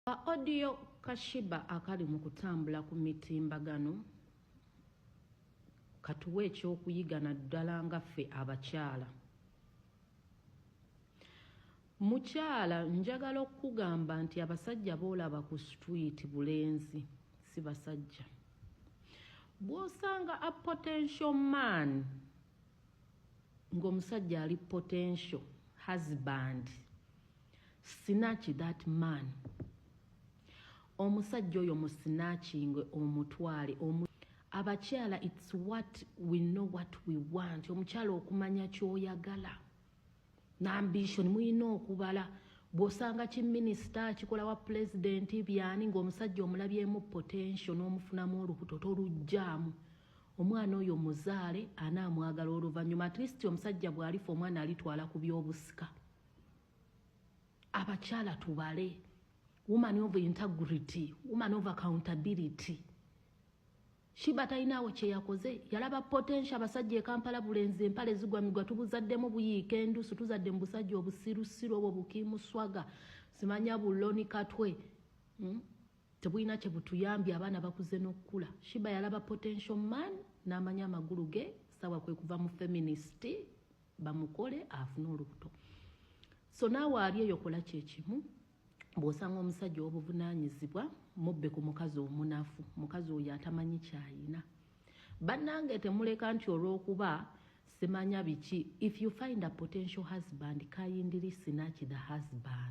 Ka audio ka Shiba akali mu kutambula ku mitimbagano katuwe ekyokuyiga naddala nga ffe abakyala. Mukyala njagala okukugamba nti abasajja boolaba ku street bulenzi si basajja. Bw'osanga a potential man ng'omusajja ali potential husband sinaki that man omusajja oyo musinakinge omutwale omu abakyala its what we know what we want omukyala okumanya kyoyagala nambition muyina okubala bwosanga ki minisita akikola wa pulezidenti byani ngaomusajja omulabyemu potential n'omufunamu olubuto tolujjaamu omwana oyo muzaale ana amwagala oluvannyuma at least omusajja bwalifa omwana alitwala ku byobusika abakyala tubale woman of integrity woman of accountability Shiba talinaawo kyeyakoze yalaba potential abasajja ekampala bulenzi empale zigwa migwa tubuzaddemu buyiika endusu tuzadde mu busajja obusirusiru obwo bukimuswaga simanya buloni katwe hmm? tebulina kye butuyambye abaana bakuze n'okukula shiba yalaba potential man n'amanya amagulu ge sawa kwe kuva mu feminist bamukole afune olubuto so naawe ali eyo kola kyekimu bw'osanga omusajja obuvunaanyizibwa mubbe ku mukazi omunafu mukazi oyo atamanyi kyayina bannange temuleka nti olw'okuba simanya biki if you find a potential husband kindly snatch the husband